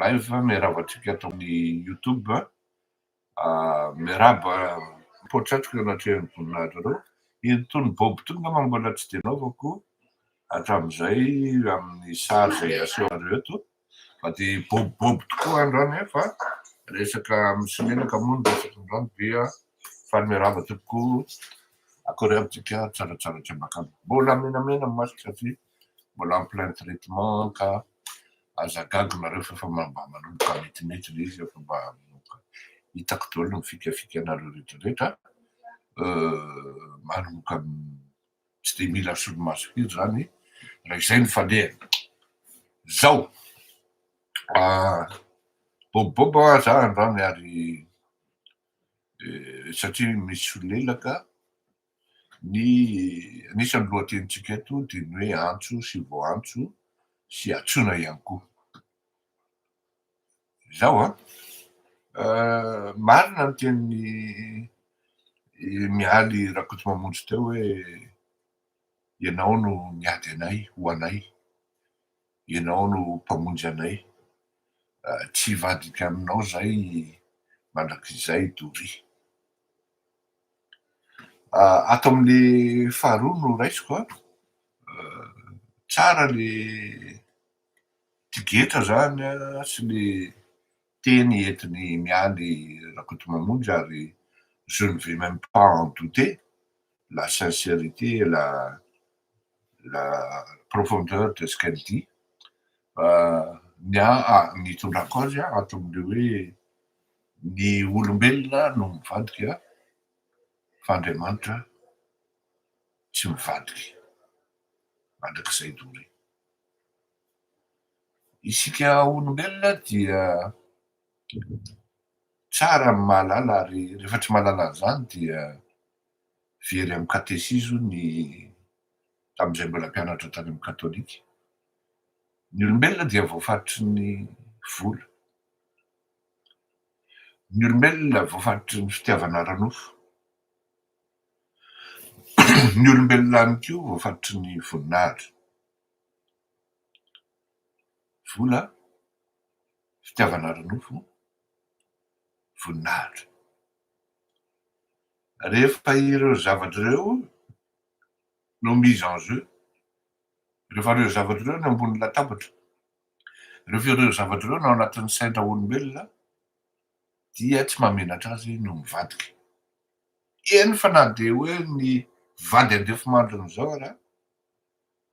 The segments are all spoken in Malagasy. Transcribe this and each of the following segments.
live miarahaba antsika ato amin'ny youtube miarahaba potratrika anatrehan'ny voninahitra reo itony bob tony ngamba mbola tsy dia naovako hatramin'izay amin'ny sary zay asehonareo eto fa dia bob bob tokoa androany fa resaka amin'ny simenaka moa ny resaka androany dia faly miarahaba tompoko akory amintsika tsaratsara tsy ambakamba mbola menamena ny masika satria mbola en plein traitement ka aza gaga nareo fa efa mba manomboka metimety le izy efa mba manomboka hitako daholo ny fikafikanareo retraretra manomboka tsy de mila solomaso firy zany raha izay ny falehana zao ah, boboboba za androany ary eh, satria misy solelaka Ny anisan'ny lohatenintsika eto dia ny hoe antso sy voantso sy antsoina ihany koa. Izao an, marina ny tenin'i Mialy Rakotomamonjy teo hoe ianao no miady anay ho anay, ianao no mpamonjy anay, tsy hivadika aminao izay mandrakizay doria. Ato amin'ny faharoa no raisiko an, tsara le tigetra zany an sy le teny entin'i Mialy Rakotomamonjy ary je ne vais meme pas en douter la sincérité et la la profondeur de ce qu'elle dit fa ny ahy ny itondrako azy an ato amin'ilay hoe Ny olombelona no mivadika fa Andriamanitra tsy mivadiky mandrakizay doria. Isika olombelona dia tsara ny mahalala ary rehefa tsy mahalala an'izany dia very amin'ny katesizo ny tamin'izay mbola mpianatra tany amin'ny katolika. Ny olombelona dia voafaritry ny vola. Ny olombelona voafatotry ny fitiavana ara-nofo. Ny olombelona ihany koa voafatotry ny voninahitra. Vola, fitiavana ara-nofo, voninahitra. Rehefa ireo zavatra ireo no mise en jeu, rehefa ireo zavatra ireo no ambony latabatra, Rehefa ireo zavatra ireo no ao anatin'ny sain-draolombelona dia tsy mahamenatra azy ny ho mivadika. Eny fa na dia hoe ny vady andefy mandriny izao ary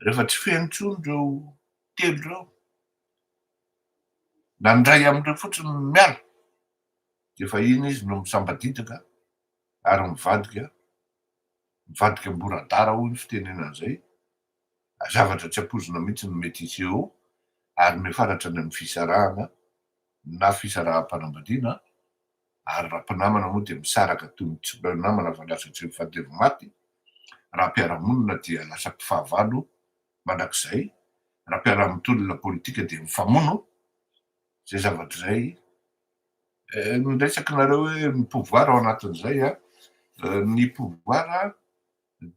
rehefa tsy feno intsony ireo telo ireo na ny iray amin'ireo fotsiny no miala dia efa iny izy no misambadidaka ary mivadika mivadika amboradara hoy ny fitenenana izay Zavatra tsy ampoizina mihitsy no mety hisy eo ary mifanatra any amin'ny fisarahana na fisaraham-panambadiana ary raha mpinamana moa dia misaraka toy ny tsy mba namana fa lasa tsy mifandevo maty, raha mpiara-monina dia lasa mpifahavalo mandrakizay, raha mpiara-mitolona politika dia mifamono, izay zavatra izay ny resakinareo hoe ny pouvoir ao anatin'izay an, ny pouvoir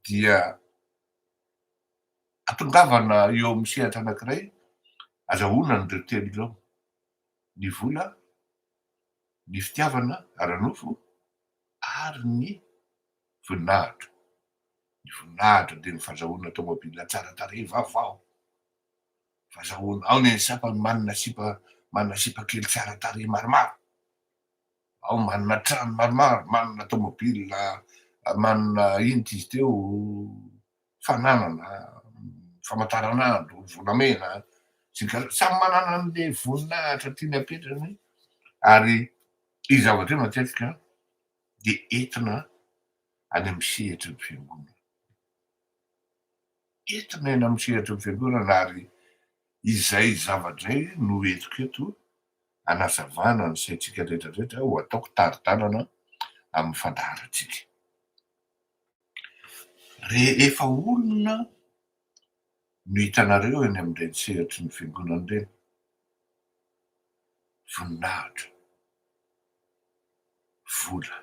dia Atongavana eo amin'ny sehatra anankiray, azahoana an'ireo telo ireo, ny vola, ny fitiavana ara-nofo ary ny voninahitra. Ny voninahitra dia ny fazahoana tomobila tsara tarehy vaovao, fazahoana, ao ny an'ny sasany manana sipa manana sipa kely tsara tarehy maromaro, Ao manana trano maromaro, manana tômôbila, manana inona izy teo, fananana, famataranandro, volamena, sigarety, samy manana an'le voninahitra tiany apetrany ary io zavatra io matetika de entina any amin'ny sehatry ny fiangonana, entina eny amin'ny sehatry ny fiangonana ary izay zavatra izay no entiko eto. hanazavana ny saintsika rehetra rehetra ho ataoko tari-dalana amin'ny fandaharantsika. Rehefa olona no hitanareo eny amin'ireny sehatry ny fiangonana ireny, voninahitra, vola,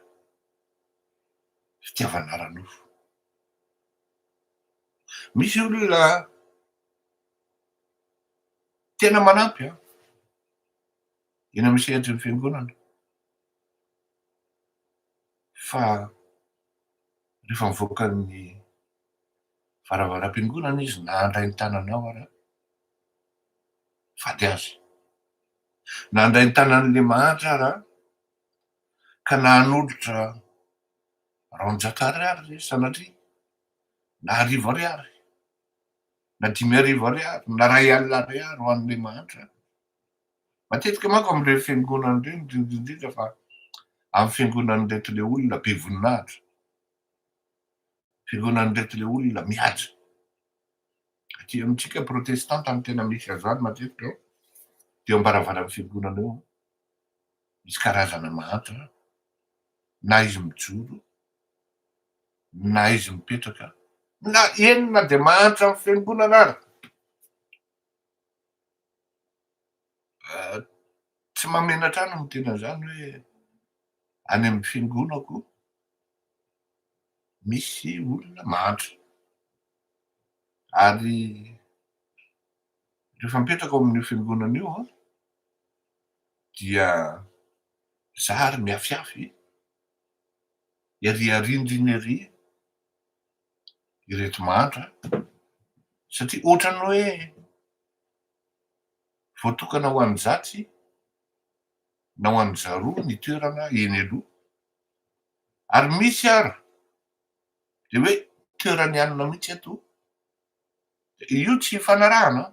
fitiavana ara-nofo. Misy olona Tena manampy an! Eny amin'ny sehatry ny fiangonana. Fa rehefa mivoaka ny varavaram-piangonana izy na handray ny tananao ara, fady azy. Na handray ny tanan'ilay mahantra ara, ka na hanolotra raonjato ariary sanatria, na arivo ariary, na dimy arivo ariary, na iray alina ariary ho an'ilay mahantra. Matetika manko amin'ireny fiangonana ireny, indrindra indrindra fa amin'ny fiangonan'ireto ilay olona be voninahitra, fiangonan'ireto ilay olona mihaja. Aty amintsika protestanta no tena misy azany matetika eo, dia eo ambaravaran'ny fiangonana eo, misy karazana mahantra, na izy mijoro, Na izy mipetraka na eny na dia mahantra amin'ny fiangonana ara. Tsy mamenatra ahy ny miteny an'izany hoe any amin'ny fiangonako misy olona mahantra. Ary rehefa mipetraka ao amin'ny fiangonana io an, dia zary mihafihafy Ery arindrina ery ireto mantra satria ohatran'ny hoe voatokana ho an'ny zatsy na ho an'ny zaroa ny toerana eny aloha ary misy ary dia hoe toeran'ny anona mihitsy eto io tsy ifanarahana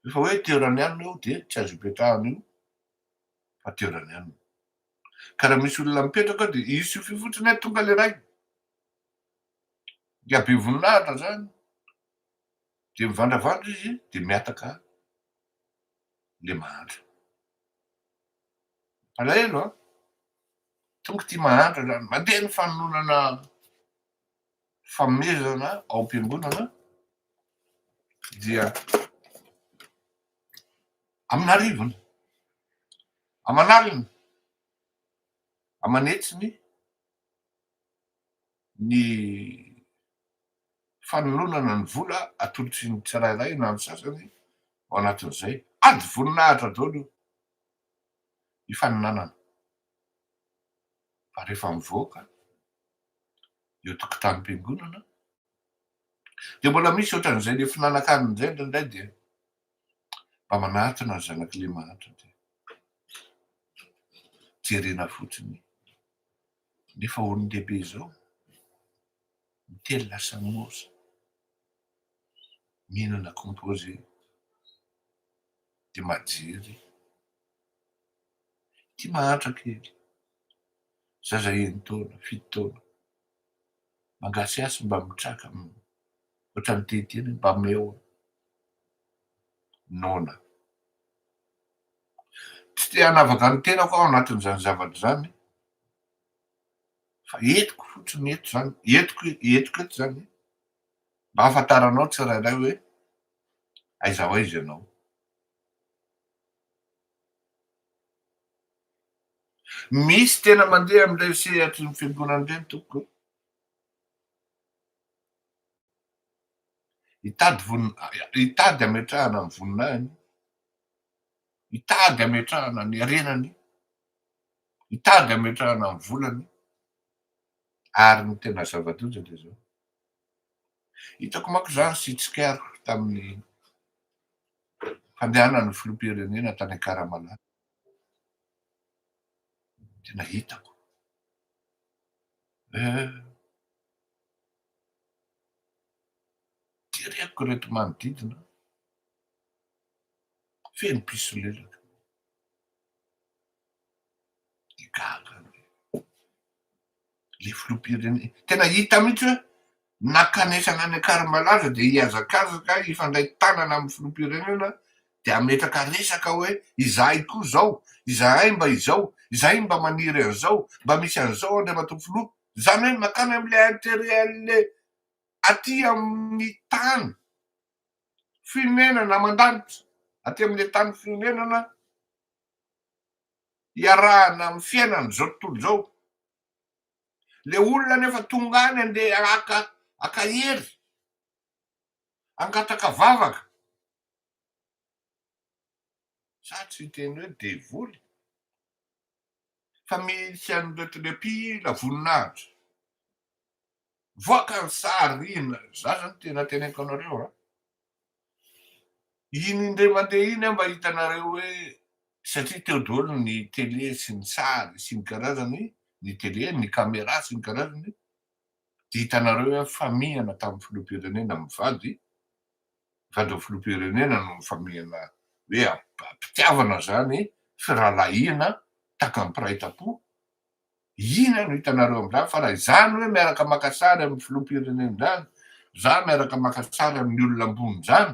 rehefa hoe toeran'ny anona io dia tsy azo ipetrahana io fa toeran'ny anona Ka raha misy olona mipetraka ao dia hisy fy fotsiny hoe tonga le ray. Dia be voninahitra zany. Dia mivandravandra izy dia miataka le mahantra. Alahelo an. Tonga ity mahantra zany. Mandeha ny fanononana famezana ao am-piangonana dia amin'arivony. Aman'aliny, aman'hetsiny ny fanalonana ny vola atolotry ny tsirairay na ny sasany ao anatin'izay. Ady voninahitra daholo io hifaninanana fa rehefa mivoaka eo tokotanim-piangonana dia mbola misy ohatran'izay le fihinanankanina indray indraindray dia Mba manatona ny zanak'i Lemanitra dia jerena fotsiny. Nefa olon-dehibe izao, miteny lasa moza, mihinana composé, dia majery. Ity mahantra kely, zaza enin-taona, fito taona, Mangasiasy mba mitraka otrany ty ty ny mba meo noana. Tsy te hanavaka ny tenako aho anatin'izany zavatra izany fa entiko fotsiny eto zany entiko entiko eto zany mba hafantaranao tsirairay hoe aiza ho aiza ianao. Misy tena mandeha amin'ireny sehatry ny fiangonana ireny tompoko e. Hitady voninahiny, hitady hametrahana ny voninahiny, hitady hametrahana ny harenany, hitady hametrahana ny volany ary ny tena zava-doza dia izao. Hitako manko za sy Tsikera tamin'ny fandehanan'ny filoham-pirenena tany Akaramanà. Tena hitako. Eh. Jereko ireto manodidina. Feno mpisolelaka. Dia gaga anie le filoham-pirenena. Tena hita mihitsy hoe nakanesana any Ankarimalaza dia hihazakazaka hifandray tanana amin'ny filoham-pirenena dia hametraka resaka hoe izahay koa izao, izahay mba izao, izahay mba maniry an'izao, mba misy an'izao Andriamatoa Filoha. Izany hoe mankany amin'ilay intérêt an'ilay aty amin'ny tany fonenana aman-danitra, aty amin'ilay tany fonenana. iarahana amin'ny fiainan'izao tontolo izao. Ilay olona anefa tonga any andeha haka haka hery, hangataka vavaka. Za tsy hiteny hoe devoly fa misy an'ireto le mpila voninahitra. Mivoaka ny sary ry ina, za zany tena teneniko anareo a, iny indray mandeha iny aho mba hitanareo hoe satria teo daholo ny tele sy ny sary sy ny karazany, ny tele, ny camera sy ny karazany, dia hitanareo hoe nifamihana tamin'ny filoham-pirenena amin'ny vady, vady amin'ny filoham-pirenena no nifamihana hoe am-pitiavana zany, firahalahiana, takam-piraitampo, Inona no hitanareo amin'izany? Fa raha izany hoe miaraka maka sary amin'ny filoham-pirenena izany, za miaraka maka sary amin'ny olona ambony izany,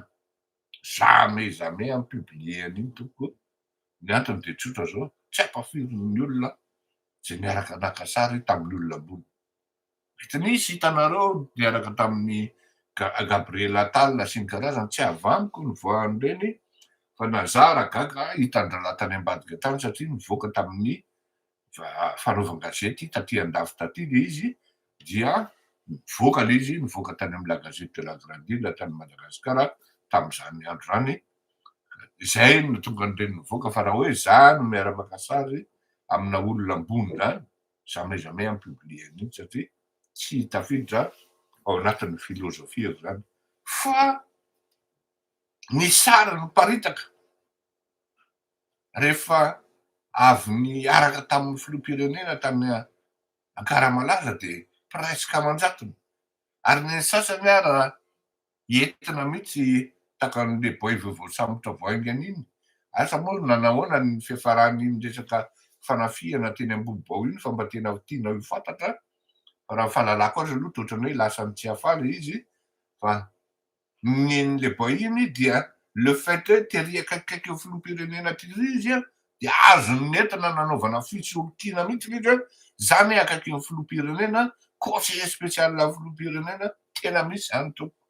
jamais jamais hampipublier an'iny tompoko o! Ny antony dia tsotra izao, tsy hampafirin'ny olona izay niaraka naka sary tamin'ny olona ambony. Mety nisy hitanareo niaraka tamin'i Gabriel Attal sy ny karazany, tsy avy amiko ny voa an'ireny fa nazara gaga hitan-drahalahy tany ambadika tany satria nivoaka tamin'ny fanaovan-gazety taty an-dafy taty ilay izy dia nivoaka ilay izy, nivoaka tany amin'ny La Gazette de la Grande Ile tany Madagasikara tamin'izany andro izany, izay no nahatonga an'ireny nivoaka fa raha hoe izaho no miara-maka sary amina olona ambony izany, jamais jamais en publier an'iny satria tsy tafiditra ao anatin'ny philosophie izany fa ny sary miparitaka rehefa avy niaraka tamin'ny filoham-pirenena tany Ankaramalaza dia presque aman-jatony ary ny sasany ara Entina mihitsy takan'le boy voasambotra vao haingana iny, asa moa ry nanahoana ny fiafaran'iny resaka fanafihana teny Ambohibao iny fa mba tena tianao ho fantatra fa raha ny fahalalako azy aloha dia ohatran'ny hoe lasa nitsiafa le izy fa nen'le boy iny dia le fait hoe tery akaikikaiky eo filoham-pirenena tery izy dia azony ny entana nanaovana fisolokiana mihitsy ilay izy hoe izany akaky ny filoham-pirenena, conseiller spécial an'ny filoham-pirenena, tena misy izany tompoko.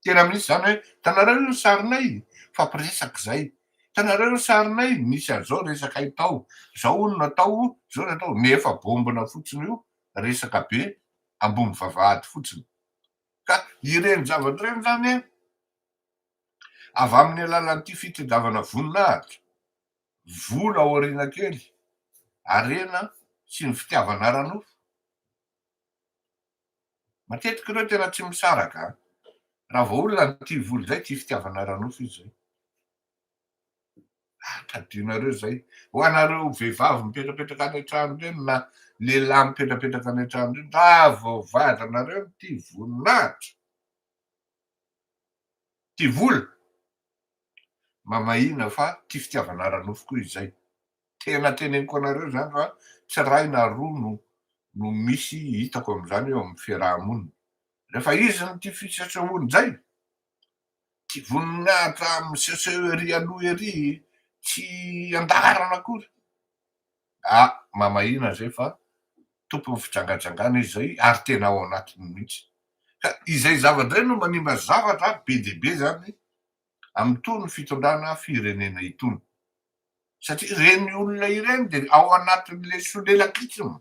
Tena misy izany hoe hitanareo io ny sarinay? Mifampiresaka izay. Hitanareo io ny sarinay? Misy an'izao resaka itao. Izao hono no atao, izao no atao. Nefa bombina fotsiny io resaka be ambony vavahady fotsiny. Ka ireny zavatra ireny izany Avy amin'ny alalan'ity fitadiavana voninahitra, vola ao aoriana kely, harena sy ny fitiavana ara-nofo. Matetika ireo tena tsy misaraka raha vao olona no tia vola izay, tia fitiavana ara-nofo izy izay. Ah, tadidinareo izay. Ho anareo vehivavy mipetrapetraka any an-trano ireny na lehilahy mipetrapetraka any an-trano ireny, raha vao vadinareo no tia voninahitra, Tia vola? Mamahina fa tia fitiavana ara-nofo koa izay. Tena teneniko anareo izany fa tsy iray na roa no no misy hitako amin'izany eo amin'ny fiaraha-monina. Rehefa izy no tia fisesehoan-jay, tia voninahitra miseseho ery aloha ery, tsy an-daharana akory, Ah! Mamahina izay fa tompon'ny fijangajangana izy izay ary tena ao anatiny mihitsy. Ka izay zava-dray no manimba zavatra be dia be izany amin'itony fitondrana firenena itony. Satria ireny olona ireny dia ao anatin'ilay solelakisma.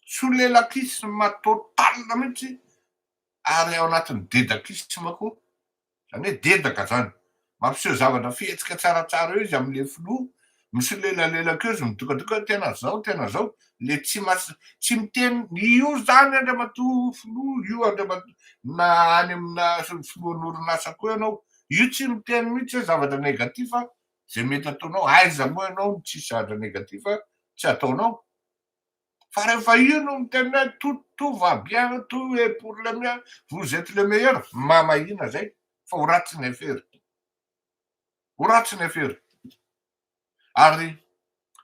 Solelakisma totale mihitsy ary ao anatin'ny dedakisma koa Izany hoe dedaka izany. Mampiseho zavatra fihetsika tsaratsara eo izy amin'ilay filoha, misolelalaelaka eo izy, midokadoko hoe tena izao, tena izao, ilay tsy mas-, tsy miteny io izany Andriamatoa Filoha, io Andriamatoa, na any aminà filohan'orinasa koa ianao, io tsy miteny mihitsy hoe zavatra négatif a, izay mety ataonao, aiza moa ianao no tsy zatra négatif tsy ataonao. Fa rehefa io no miteny hoe tout tout va bien, tout est pour le mieux, vous etes le meilleur, mamahina zay fa ho ratsy ny affaire. Ho ratsy ny affaire. Ary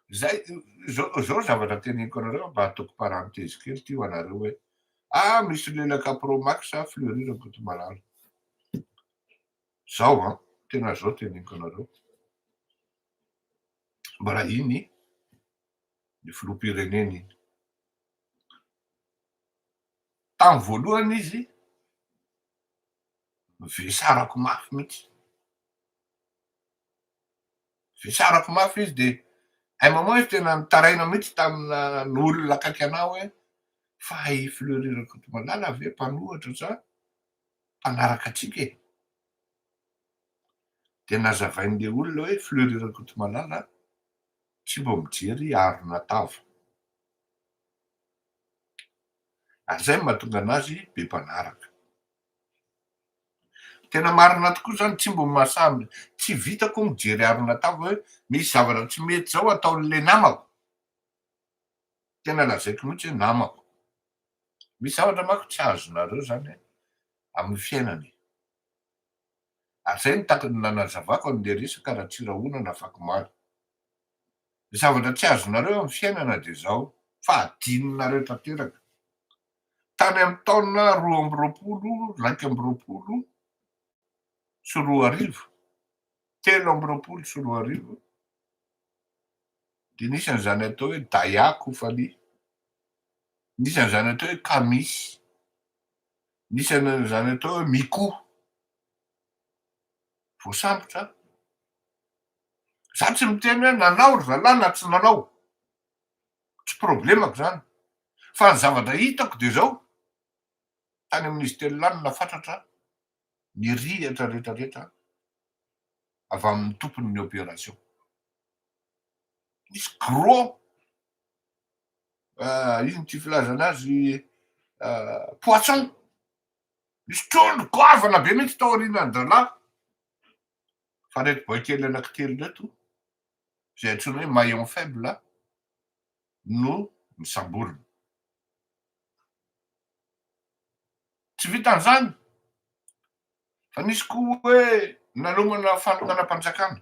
zay zao zao zavatra teneniko anareo mba ataoko parenthèse kely ty ho anareo hoe ah misy lelaka pro max sa fleury rakotomalala. Zao an, tena zao teneniko anareo. Mbola iny. ny filoham-pirenena iny. Tamin'ny voalohany izy vesarako mafy mihitsy. Vesarako mafy izy dia un moment izy tena nitaraina mihitsy tamina ny olona akaiky anah hoe fa i Fleury Rakotomalala ve mpanohatra sa mpanaraka antsika e? Dia nazavain'ilay olona hoe Fleury Rakotomalala Tsy mba mijery arina tava. Ary izay no mahatonga anazy be mpanaraka. Tena marina tokoa izany, tsy mba mahasahy, tsy vitako ny mijery arina tava hoe misy zavatra tsy mety izao ataon'ilay namako. Tena lazaiko mihitsy hoe namako. Misy zavatra manko tsy azonareo izany amin'ny fiainana e. Ary izay no tahaka ny nanazavako an'ilay resaka Ratsirahona nafak'omaly. Ny zavatra tsy azonareo amin'ny fiainana dia izao fa adinonareo tanteraka. Tany amin'ny taona roa amby roapolo iraika amby roapolo sy roa arivo, telo amby roapolo sy roa arivo, dia nisy an'izany atao hoe Daya Koufaly, nisy an'izany atao hoe Kamisy, Nisy an'izany atao hoe Miko, voasambotra. Za tsy miteny hoe nanao ry zalahy na tsy nanao, tsy problemako zany, fa ny zavatra hitako dia zao, tany amin'izy telo lahy no nafatratra ny rihitra retraretra avy amin'ny tompon'ny opération. Nisy gros ino ity filazana azy poisson misy trondro goavana be mihitsy tao aorianan'ny zalahy fa reto boay kely anankitelo reto izay antsoina hoe maillon faible no misamborina tsy vitan'izany fa nisy koa hoe nanomana fanonganam-panjakana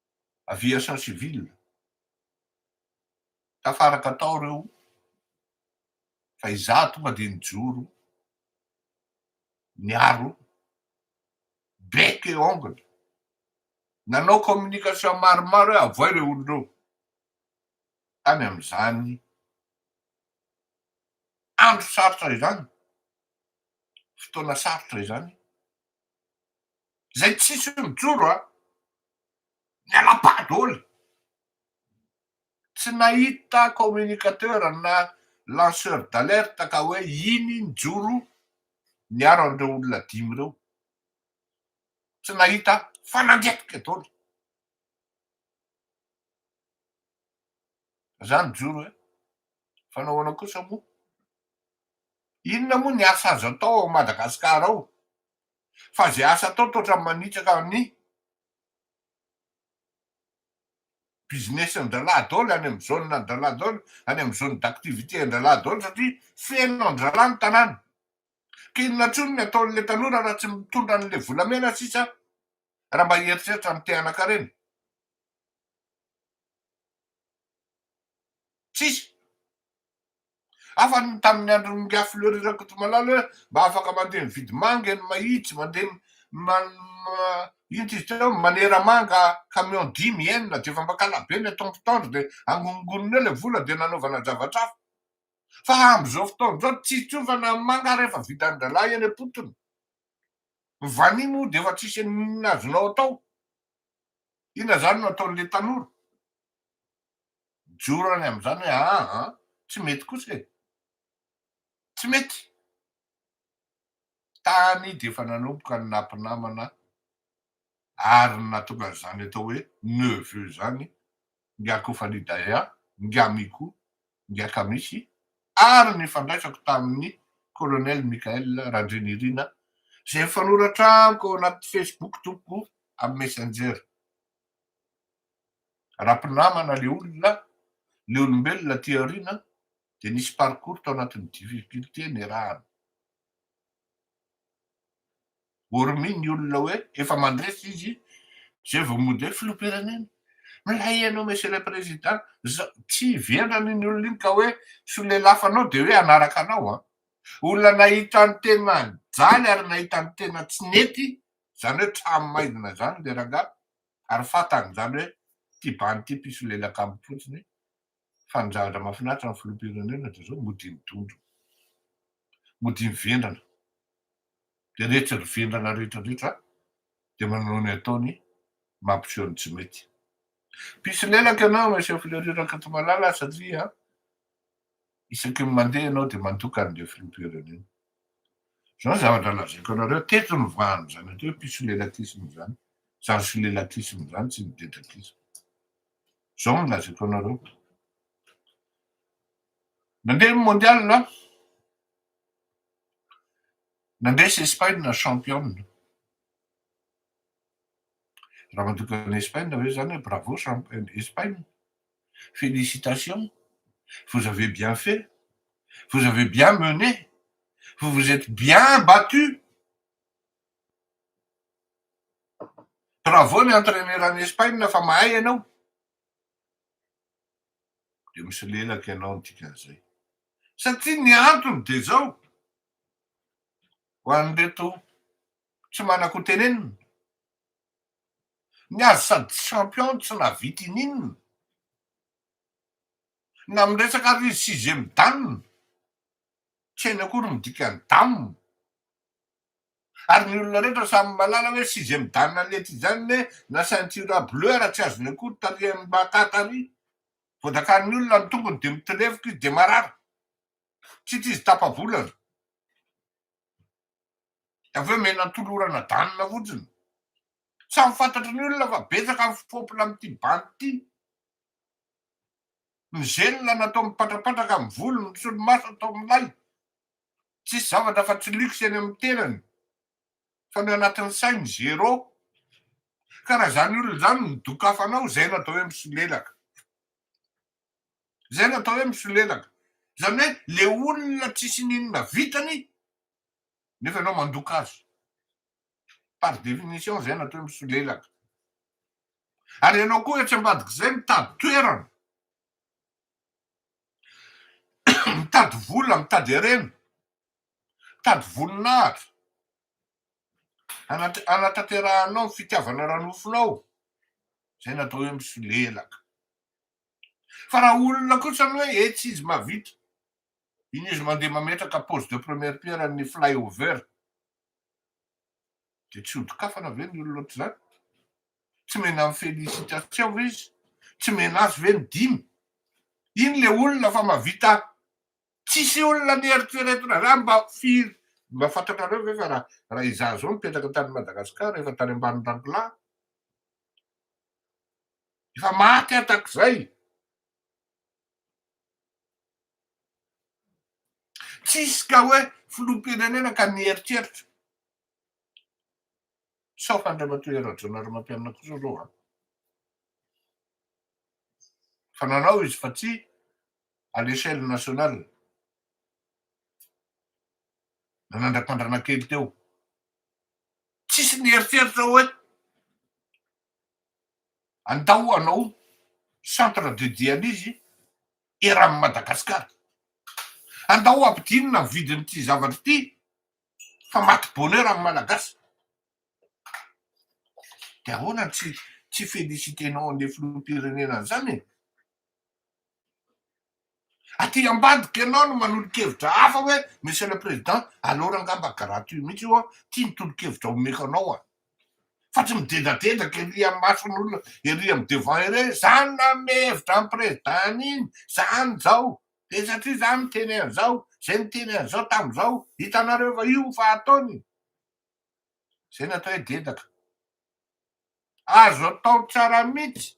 aviation civile, tafaraka tao ireo fa izaho tonga dia nijoro niaro bec et ongle, nanao communication maromaro hoe avoay ireo olona ireo, tany amin'izany andro sarotra izany, fotoana sarotra izany. Zay tsisy hoe mijoro a! Mialapà dôly! Tsy nahita communicateur na lanceur d'alerte ka hoe iny nijoro niaro an'ireo olona dimy ireo. Tsy nahita fa nandetika dôly. Za nijoro e! Fa nahoana kosa moa? Inona moa ny asa azo atao ao Madagasikara ao? fa izay asa atao toa ohatran'ny manitsaka ny business-n'dralahy daholo any amin'ny zone an-dralahy daholo, any amin'ny zone d'activité an-dralahy daholo satria feno an-dralahy ny tanàna. Ka inona intsony ny ataon'ilay tanora raha tsy mitondra an'ilay volamena sisa raha mba hieritreritra ny te-hanan-karena? Tsisy. Hafa ny tamin'ny andron'i Ingahy Fleury Rakotomalala hoe mba afaka mandeha mividy manga eny Mahitsy, mandeha inty izy teo, manera manga camion dimy, enina, dia efa mba kalabe ny ataon'ny mpitandro dia angonongonony eo ilay vola dia nanaovana zavatra hafa. Fa amin'izao fotoana izao tsy hitsiovana ny manga ary efa vitan'ny rahalahy eny am-potony. Ny vanio moa dia efa tsisy inona azonao atao. Inona izany no ataon'ilay tanora? Mijoro any amin'izany hoe aa tsy mety kosa e! Tsy mety! Tany dia efa nanomboka ny nampinamana ary ny nahatonga an'izany atao hoe neveu izany Ingahy Kofani Daya, Ingahy Miko, Ingahy Kamisy ary ny fandraisako tamin'ny Colonel Michael Randrianirina izay nifanoratra amiko ao anaty Facebook tompoko amin'ny Messenger. Raha mpinamana le olona, le olombelona aty aoriana dia nisy parcours tao anatin'ny difficultés niarahana. Hormis ny olona hoe efa mandresy izy zay vao mody hoe filoham-pirenena, milay ianao monsieur le président, zao, tsy vendrana iny olona iny ka hoe solelafanao dia hoe hanaraka anao an! Olona nahita ny tena jaly ary nahita ny tena tsy nety, zany hoe trano maizina zany le rangahy, ary fantany izany hoe ity bandy ity mpisolelaka aminy fotsiny fa ny zavatra mahafinaritra ny filoham-pirenena dia izao mody midondrona, mody mivendrana, dia rehetra ry vendrana rehetra rehetra dia manao ny ataony mampiseho ny tsy mety. Mpisolelaka ianao Monsieur Fleury Rakatomalala satria Isaky ny mandeha ianao dia mandoka an'ilay filoham-pirenena. Izao ny zavatra lazaiko anareo, teto ny vahan'izany atao hoe pisolelatisme izany, izany solelatisme izany tsy ny dedatisme. Izao ny lazaiko anareo. Nandeha ny mondial an! Nandresy Espaina championne. Raha mandoka an'i Espaina ve izany hoe bravo Espaina? Félicitations! Vous avez bien fait! Vous avez bien mené! Vous vous êtes bien battu! Bravo ny entraîneur any Espaina fa mahay ianao! Dia misolelaka ianao ny dikan'izay. Satria ny antony dia izao, ho an'ireto tsy manan-ko tenenina, Ny azy sady champion tsy nahavita ininona na miresaka ary izy sixième dan tsy hainy akory ny dikany dam ary ny olona rehetra samy malala hoe sixième dan lety izany ne na ceinture bleu ara tsy azony akory tarihan'ny baka tary vao dakarin'ny olona ny tongony dia mitirevoka izy dia marary tsy tizy tapa volana de avy eo mena tolorana danina fotsiny. Samy fantatry ny olona fa betsaka ny fopla amin'ity bandy ity. Ny zelona natao mipatrapatraka amin'ny volo, ny solomaso atao milay. Tsisy zavatra fa tsy luxe eny amin'ny tenany fa ny anatin'ny sainy zero. Ka raha zany olona zany no dokafanao, zaina atao hoe misolelaka. Zay no atao hoe misolelaka. Zany hoe le olona tsisy n'inona vitany nefa ianao mandoka azy. Par définition zay no atao hoe misolelaka. Ary ianao koa etsy ambadik'izay mitady toerana, mitady vola, mitady harena, mitady voninahitra hanatanterahanao ny fitiavana ara-nofonao, zay no atao hoe misolelaka. Fa raha olona kosa aloha hoe etsy izy mahavita. Iny izy mandeha mametraka pose de première pierre an'ny fly over dia tsy hodokafana ve ny olona ohatr'izany? Tsy mena amin'ny félicitation ve izy? Tsy mena azy ve ny dimy? Iny ilay olona fa mahavita tsisy olona ny eritreretina zany mba firy mba fantatrareo ve fa raha raha izaho zao nipetraka tany Madagasikara efa tany ambanin'ny rangolah Efa maty aho takzay. Tsisy ka hoe filoham-pirenena ka mieritreritra. Sauf Andriamatoa Hery Rajaonarimampianina kosa zao an. Fa nanao izy fa tsy à l'échelle nationale. Nanandra-pandrana kely teo. Tsisy nieritreritra hoe Andao hanao centre de dialyse eran'i Madagascar. Andao hampidinina ny vidin'ity zavatra ity fa maty bonheur ny Malagasy. Dia ahoana no tsy tsy felicitenao an'ilay filoham-pirenena an'izany e? Aty ambadika ianao no manolo-kevitra hafa hoe Monsieur le Président, alors angamba garaty io mihitsy ho'a tia ny tolo-kevitra omeko anao a! Fa tsy midedadedaka ery amin'ny mason'olona ery amin'ny devant ery hoe za no nanome hevitra an'i Président an'iny, za no zao, dia satria za niteny an'izao, zay niteny an'izao tamin'izao, hitanareo fa io fa ataony zay natao hoe dedaka. Azo atao tsara mihitsy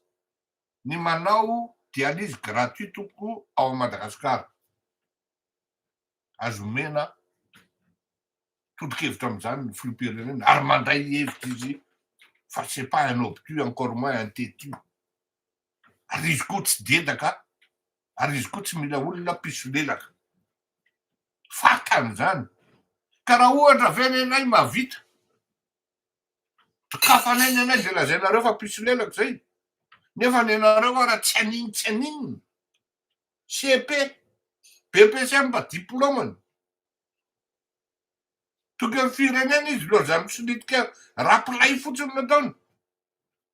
ny manao dialyse gratuit tompoko ao Madagascar. Azo omena tolokevitra amin'izany ny filoham-pirenena ary mandray hevitra izy fa c'est pas un obtus encore moins un tetu. Ary izy koa tsy dedaka ary izy koa tsy mila olona mpisolelaka. Fantany izany. Ka raha ohatra ve lehilahy mahavita Tafanay ny anay zay lazainareo fa pisolelaka zay nefa ny anareo ara tsy aniny tsy aniny CEP BPC mba diplômany tokony firenena izy loha zany misolitika rapilay fotsiny nataony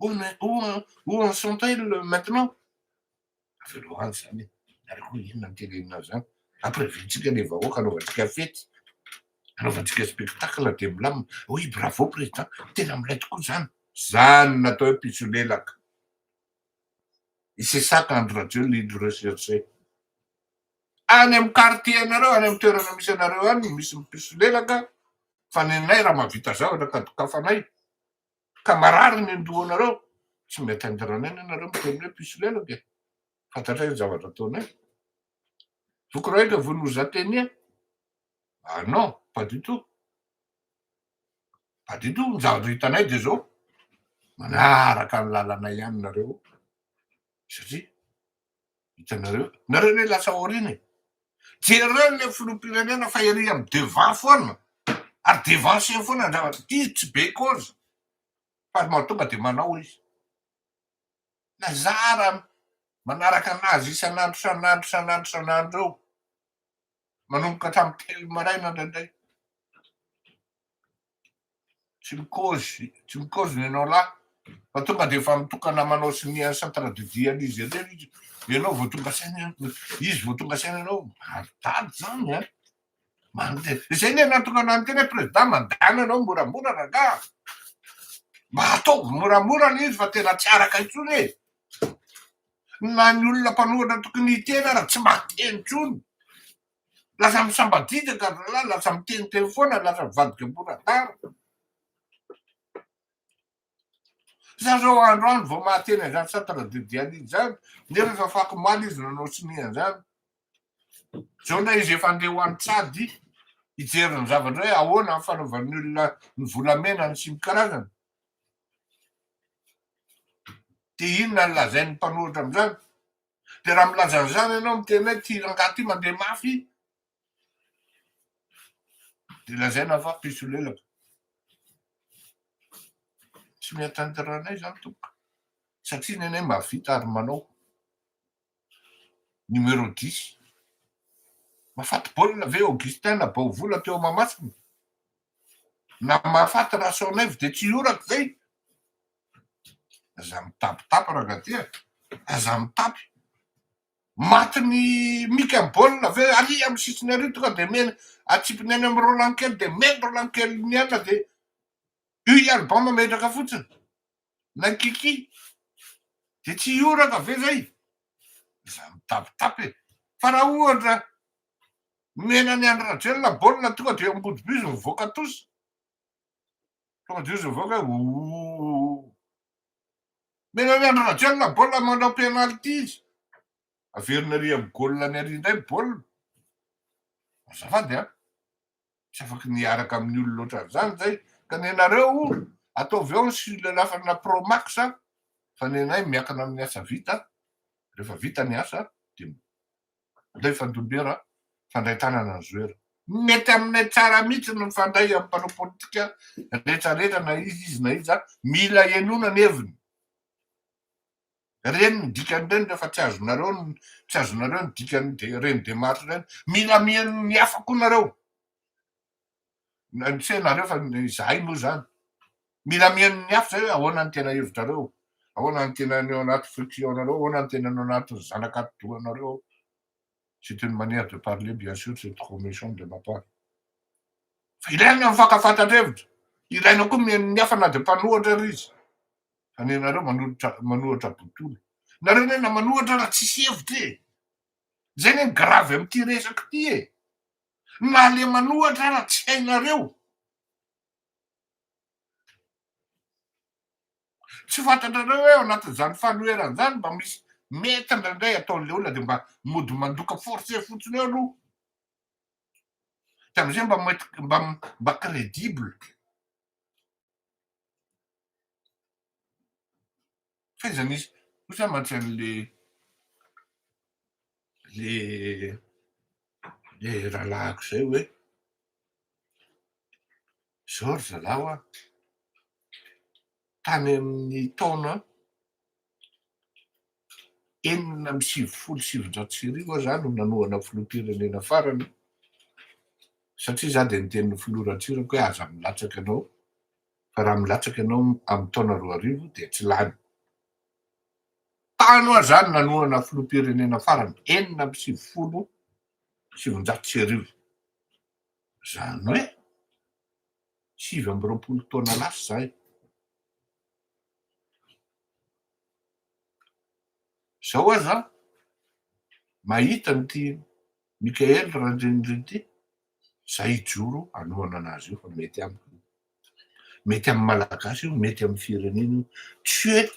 Où mais où où en sont-elles maintenant? Avelao any zany e, ary koa inona ny tenenina zany? Ampirevintsika le vahoaka anaovantsika fety, anaovantsika spectacle dia milamina. Oui bravo président, tena milay tokoa zany. Zany natao hoe pisolelaka. Et c'est ça qu'Andry Rajoelina il recherchait. Any amin'ny quartier anareo, any amin'ny toerana misy anareo any misy mipisolelaka fa nenay raha mahavita zavatra ka dokafanay. Ka marary ny andohanareo, tsy mety andranana ianareo miteny hoe mpisolelaka e! Fantatray ny zavatra ataonay. Voky Raoilika vous nous atteignez? Ah non, pas du tout. Pas du tout, ny zavatra hitanay dia izao, manaraka ny lalanay ihany nareo satria Hitanareo? Nareo ne lasa aoriana e. Jereo le filoham-pirenena fa ery am devant foana ary devancé foana andrava ty tsy be cause fa ry mahatonga de manao izy. Na zara manaraka anazy isan'andro isan'andro isan'andro isan'andro eo. Manomboka hatramin'ny telo maraina indraindray. tsy mikozy tsy mikozy ny anao lahy fa tonga dia efa mitokana manao sonia ny centre de vie an'izy ireny izy ianao vao tonga saina izy vao tonga saina ianao maridady zany a mandeha izay ny anatokana ny tena président mandana ianao moramora rangaha mba ataovy moramora le izy fa tena tsy araka intsony e na ny olona mpanohatra tokony hiteny ara tsy mahateny intsony Lasa misambadidy an-drazalahy, lasa miteniteny foana, lasa mivadika mora tara. Za zao andro andro vao mahateny an'izany Sata Radiodianina izany, nefa efa fako omaly izy nanao sonia an'izany. Zao ndray izy efa andeha ho any Tsady hijery ny zavatra hoe ahoana ny fanaovan'ny olona ny volamena ny sy ny karazany. Dia inona ny lazain'ny mpanohitra amin'izany? Dia raha milaza an'izany ianao miteny hoe ity rangahy ity mandeha mafy dia lazaina fa mpisolelaka. Tsy miatanterana anay izany tompoko satria ny anay mahavita ary manao numéro 10. Mahafaty baolina ve Augustin na Baovola teo Mahamasina? Na mahafaty Rasoanaivo dia tsy hioraka izay? Aza mitapitapy rangaty a! Aza mitapy! Matin'i Mika ny baolina avy eo ary amin'ny sisiny ary tonga dia mihaino atsipiny any amin'i Roland kely dia mihaino Roland kely mihaino dia io i Alban mametraka fotsiny na Kiki dia tsy hioraka ve zay? Aza mitapitapy e! Fa raha ohatra nomena an'i Andry Rajoelina baolina tonga dia eo ambody bus mivoaka tous Tonga de izy mivoaka hoe ooh. Mena hoe Andry Rajoelina baolina manao penalty izy. Averina ary amin'ny goal any ary indray ny baolina. Azafady an. Tsy afaka ny hiaraka amin'ny olona loatra an'izany izay. Ka nenareo ataovy ao ny silelafana pro max fa nenay miakina amin'ny asa vita. Rehefa vita ny asa dia Alefa Ndombera fandray tanana ny zoera. Mety aminay tsara mihitsy ny mifandray amin'ny mpanao politika rehetra rehetra na iza izy na iza, mila henoina ny heviny. Ireny ny dikan'ireny rehefa tsy azonareo ny tsy azonareo ny dikan'ireny démarche ireny, mila miheno ny hafa koa nareo. Tsy hainareo fa izahay moa izany. Mila mihaino ny hafa izay hoe ahoana ny tena hevitrareo, ahoana ny tena ny ao anaty frictionareo, ahoana ny tena ny ao anatin'ny zanak'atidohanareo. C'est une manière de parler bien sûr, c'est trop méchant de ma part. Fa ilaina ny fankafantran-drevitra, ilaina koa mihaino ny hafa na dia mpanohatra ary izy. Fa ny anareo manohitra manohitra botolo. Nareo anie na manohatra raha tsisy hevitra e! Zay anie ny grave amin'ity resaka ity e! Nalemana ohatra ara tsy hainareo. Tsy fantatrareo hoe ao anatin'izany fanoherana izany mba misy mety indraindray ataon'ilay olona dia mba mody mandoka forcer fotsiny eo aloha. Dia amin'izay mba mety mba mba credible. Fa iza misy kosa mantsy an'le le le rahalahiko zay hoe zao ry zalaho a, tany amin'ny taona enina amby sivifolo sy sivinjato sy arivo aho za no nanohana filoham-pirenena farany satria za dia niteny ny filoha Ratsiraka hoe aza milatsaka anao fa raha milatsaka ianao amin'ny taona roa arivo dia tsy lany. Tany hoa zany nanohana filoham-pirenena farany enina amby sivifolo sy sivinjato sy arivo. Zany hoe sivy amby roapolo taona lasa zay. Zao aza mahita an'ity Michael Randrianirina ity Zay hijoro hanohana anazy io fa mety amiko io. Mety amin'ny Malagasy io, mety amin'ny firenena io. Tu es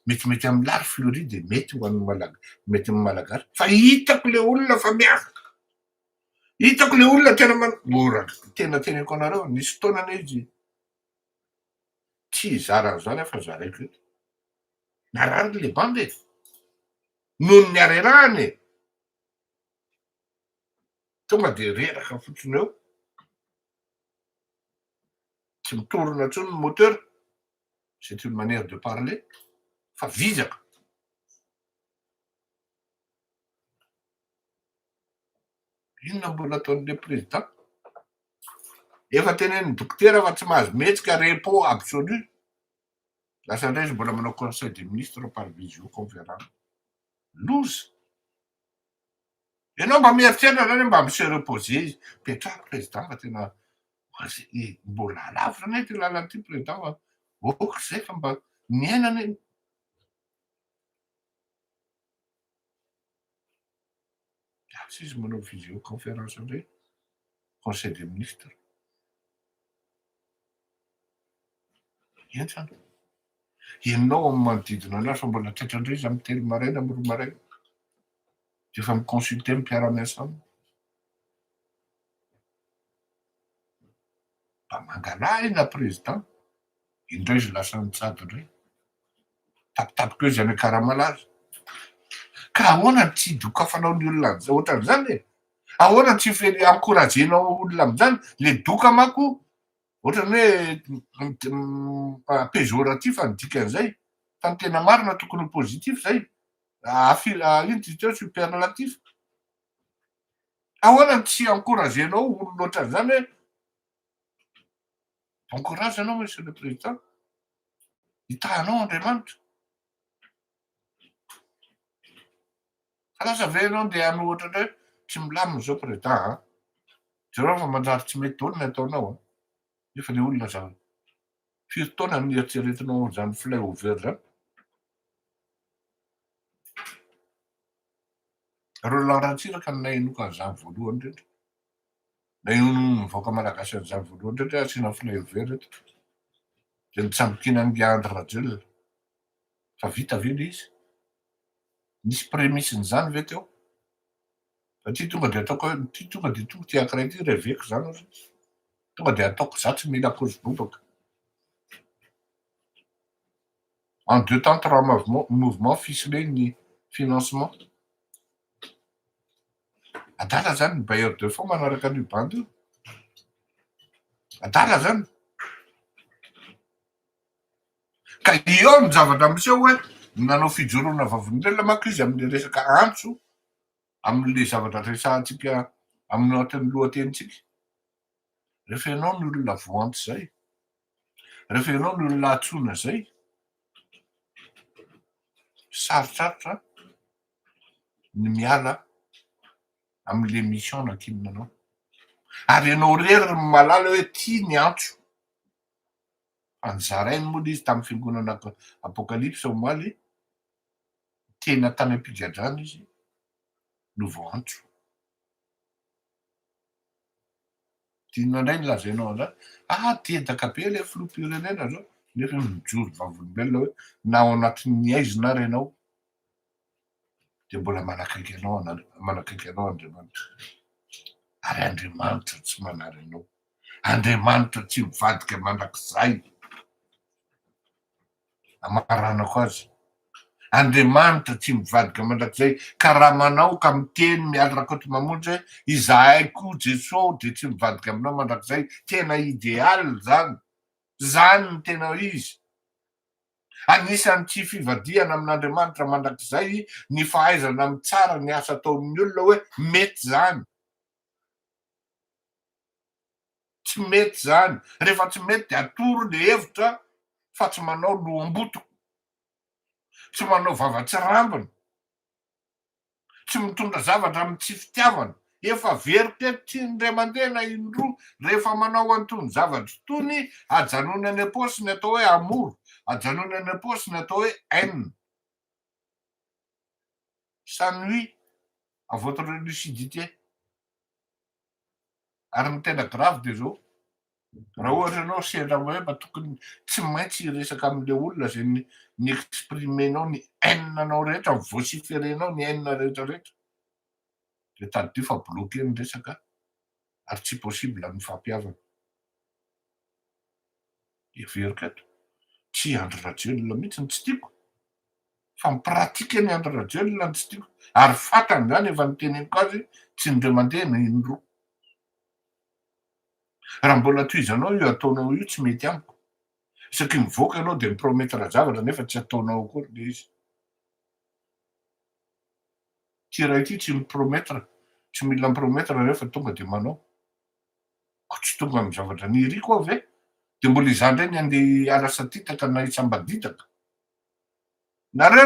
metimety amin'ny Lary Fleury dia mety ho an'ny Malagasy, mety amin'ny Malagasy fa hitako le olona fa miavaka. Hitako le olona tena man ora tena teneniko anareo nisy fotoana anie izy tsy hizara an'izany aho fa zaraiko eto. Narary le banda e. Noho ny harerahany e. Tonga dia reraka fotsiny eo, tsy mitorina intsony ny moteur, c'est une manière de parler, fa vizaka. Inona mbola ataon'ilay président? Efa tenenin'ny dokotera fa tsy mahazo mihetsika, repos absolu. Lasa indray izy mbola manao conseil des ministres par visioconférence. Loza. Ianao mba mieritreritra zany hoe mba mi-se reposer izy. Petrahako Président fa tena mbola alavitra anie ity lalana ity Président fa ok zay fa mba miaina anie. Gasy izy manao visioconférence indray, Conseil des ministres. Entan. Enao amin'ny manodidina anao sao mbola taitra indray izy amin'ny telo maraina, amin'ny roa maraina. Dia efa mi-consulter amin'ny mpiara-miasa aminy. Mba mangalahina président. Indray izy lasa nitsabo indray. Mitapitapy koa izy any Akaramalala. Ka ahoana no tsy idokafanao ny olona ohatran'izany e? Ahoana no tsy encouragenao ny olona amin'izany? Ilay doka manko ohatran'ny hoe péjoratif ny dikan'izay fa ny tena marina tokony ho positif izay. Inona izy teo? Superlatif. Ahoana no tsy encouragenao olona ohatran'izany hoe Bon courage anao monsieur le président. Hitahanao Andriamanitra. Fa lasa ve ianao ndeha hanao ohatra indray tsy milamina izao président a. Jereo fa manjary tsy mety daholo ny ataonao a. Nefa ilay olona aza firy taona no nieritreretinao izany flyover izany. Roland Ratsiraka no nahenoka an'izany voalohany indrindra. Ilay onin'ny vahoaka malagasy an'izany voalohany indrindra hoe asiana fleuil vert eto dia ny tsambokinan'i Andry Rajoelina. Fa vita ve ilay izy? Nisy prémisse-n'izany ve teo? Fa ity tonga dia ataoko hoe ity tonga dia tonga ity ankiray ity reveko izany ozy ity. Tonga dia ataoko za tsy mila kozy bobaka. En deux temps trois mouvements ficelés ny financement. Adala zany ny bailleur de fonds manaraka an'io bandy io. Adala zany. Ka eo ny zavatra miseho hoe nanao fijoroana vavolombelona manko izy amin'ny resaka antso amin'le zavatra resahantsika amin'ny atin'ny lohatenintsika. Rehefa ianao ny olona voantso zay. Rehefa ianao no olona antsoina izay, sarotrarotra ny miala amin'ilay mission nankinina anao. Ary ianao irery no mahalala hoe ity ny antso. Fa nizarainy moa ilay izy tamin'ny fiangonana Apocalypse omaly, tena tany am-pigadrana izy no voaantso. Inona indray no lazainao an'izany? Aa te hitaka be ilay filoham-pirenena izao nefa mijoro vavolombelona hoe na ao anatin'ny aizina ary ianao dia mbola manakaiky anao manakaiky anao Andriamanitra. Ary Andriamanitra tsy manary anao. Andriamanitra tsy mivadika mandrakizay. Amaranako azy. Andriamanitra tsy mivadika mandrakizay karama anao ka miteny Mialy Rakotomamonjy hoe izahay koa Jeso dia tsy mivadika aminao mandrakizay tena ideal zany zany ny tena izy Anisan'ny tsy fivadihana amin'Andriamanitra mandrakizay ny fahaizana mitsara ny asa ataon'ny olona hoe mety zany Tsy mety izany. Rehefa tsy mety dia atoro ilay hevitra fa tsy manao loham-botoko, tsy manao vava tsy rambiny, tsy mitondra zavatra amin'ny tsy fitiavana. Efa very teto tsy indray mandeha na indroa. Rehefa manao an'itony zavatra itony, ajanony any am-paosy ny atao hoe amour, ajanony any am-paosy ny atao hoe haine. Ça nuit à votre lucidité. Ary ny tena grave dia zao, raha ohatra ianao sendra hoe mba tokony tsy maintsy hiresaka amin'ilay olona izay ni-exprimer-nao ny haine-nao rehetra, ni-vociférer-nao ny haine rehetra rehetra, dia tadidio fa bloquer ny resaka ary tsy possible ny mifampihavana. Heveriko eto, tsy i Andry Rajoelina mihitsy no tsy tiako, Fa mi pratique ny Andry Rajoelina no tsy tiako ary fantany izany efa noteneniko azy tsy indray mandeha na indroa. Raha mbola tohizanao io ataonao io tsy mety amiko. Isaky mivoaka ianao dia mi promettre zavatra nefa tsy ataonao akory ilay izy. Ity iray ity tsy mi promettre, tsy mila mi promettre rehefa tonga dia manao. Ko tsy tonga amin'ny zavatra niriko aho ve? Dia mbola izaho indray ny handeha hiala satitaka na hisambadidaka? Nareo